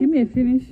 Give me a finish.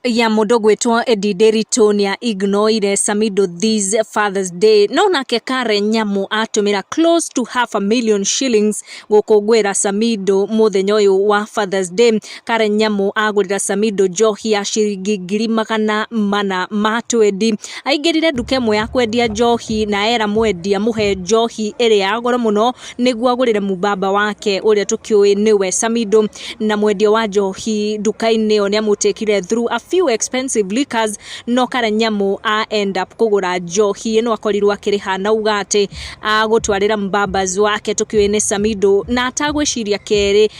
ya mũndũ gwĩtwo Eddie Nderitu nĩ a ignoire Samido this Father's Day no nake Karen Nyamu atũmĩra close to half a million shillings gũkũngũĩra Samido mũthenya ũyũ wa Father's Day Karen Nyamu agũrĩra Samido njohi ya ciringi ngiri magana mana ma twendi aingĩrire nduka ĩmwe ya kwendia njohi na era mwendia mũhe njohi ĩrĩa ya goro mũno nĩguo agũrĩre mũbaba wake ũrĩa tũkĩũĩ nĩwe Samido na mwendia wa njohi nduka-inĩ ĩyo nĩamũtĩkire through a few expensive liquors no Karanyamu a end up kũgũra njohi ĩno akorirwo akĩrĩha na uga atĩ agũtwarĩra mũbabas wake tũkĩũĩ nĩ Samido na atagwĩciria kerĩ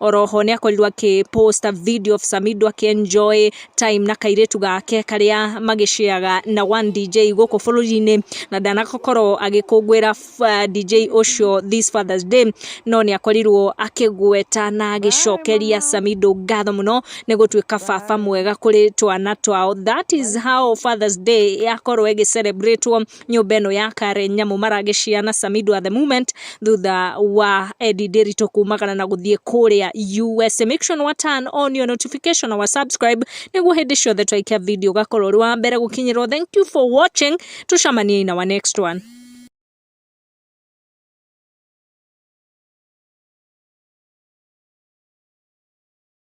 Oroho nĩ akorirwo akĩ post a video of Samido akĩ enjoy time na kairĩtu gake karĩa magĩceaga na one DJ gũkũ bũrũri-inĩ na ndanakorwo agĩkũngũĩra uh, DJ ũcio this Father's Day no nĩ akorirwo akĩgweta na agĩcokeria Samido ngatho mũno nĩ gũtuĩka baba mwega kũrĩ twana twao that is how Father's Day yakorwo ĩgĩcelebrĩtwo nyũmba ĩno ya Karen Nyamu Maragĩcia na Samidwa the Moment thutha wa Eddie Ndiritu kumagana na gũthiĩ kũrĩa USA. Make sure nĩ wa turn on your notification na wa subscribe nĩguo hĩndĩ ciothe twaikia video ũgakorwo ũrĩ wa mbere gũkinyĩrwo. Thank you for watching. Tucamanie in our next one.